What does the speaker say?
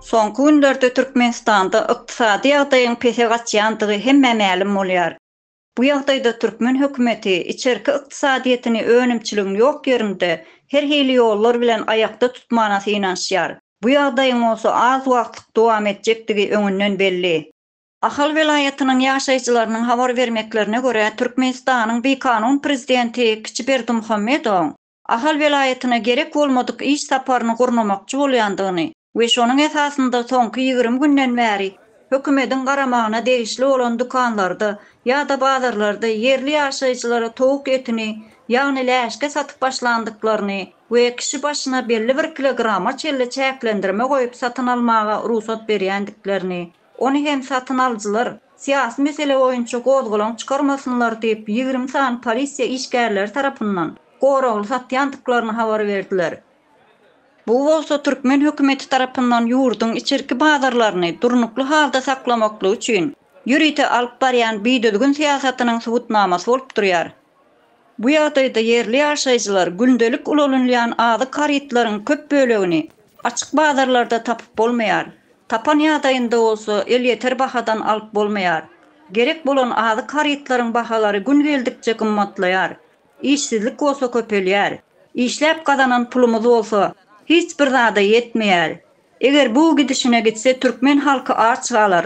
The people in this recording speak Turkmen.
Soňky günlerde Türkmenistanda ykdysady ýagdaýyň pese gaçýandygy hemmä mälim bolýar. Bu ýagdaýda türkmen hökümeti içerki ykdysadyýetini önümçiligiň ýok ýerinde her hili ýollar bilen aýakda tutmana synanyşýar. Bu ýagdaýyň bolsa az wagtlyk dowam etjekdigi öňünden belli. Ahal welaýatynyň ýaşaýjylarynyň habar bermeklerine görä, Türkmenistanyň bikanun prezidenti Kiçi Berdimuhamedowyň Ahal welaýatyna gerek bolmadyk iş saparyny gurnamakçy bolýandygyny we şonuň esasynda soňky ýigrimi günden bäri hökümediň garamagyna degişli bolan dükanlarda ýa-da bazarlarda ýerli ýaşaýjylara towuk etini, ýagny läşki satyp başlandyklaryny we kişi başyna belli bir kilograma çenli çäklendirme goýup satyn almaga rugsat berýändiklerini Ony hem satyn alyjylar, syýasy mesele boýunça gozgalaň çykarmasynlar diýip, ýigrimi sany polisiýa işgärleri tarapyndan goragly satýandyklaryny habar berdiler. Bu bolsa türkmen hökümeti tarapyndan ýurduň içerki bazarlaryny durnukly halda saklamaklygy üçin ýörite alyp barýan bidüzgün syýasatynyň subutnamasy bolup durýar. Bu ýagdaýda ýerli ýaşaýjylar gündelik ulalynýan azyk harytlaryň köp bölegini açyk bazarlarda tapyp bolmaýar, tapan ýagdaýynda bolsa elýeter bahadan alyp bolmaýar. Gerek bolan azyk harytlaryň bahalary gün geldikçe gymmatlaýar, işsizlik bolsa köpelýär. Işläp gazanan pulumyz bolsa hiç bir zada ýetmeýär. Eger bu gidişine gitse türkmen halky aç galar.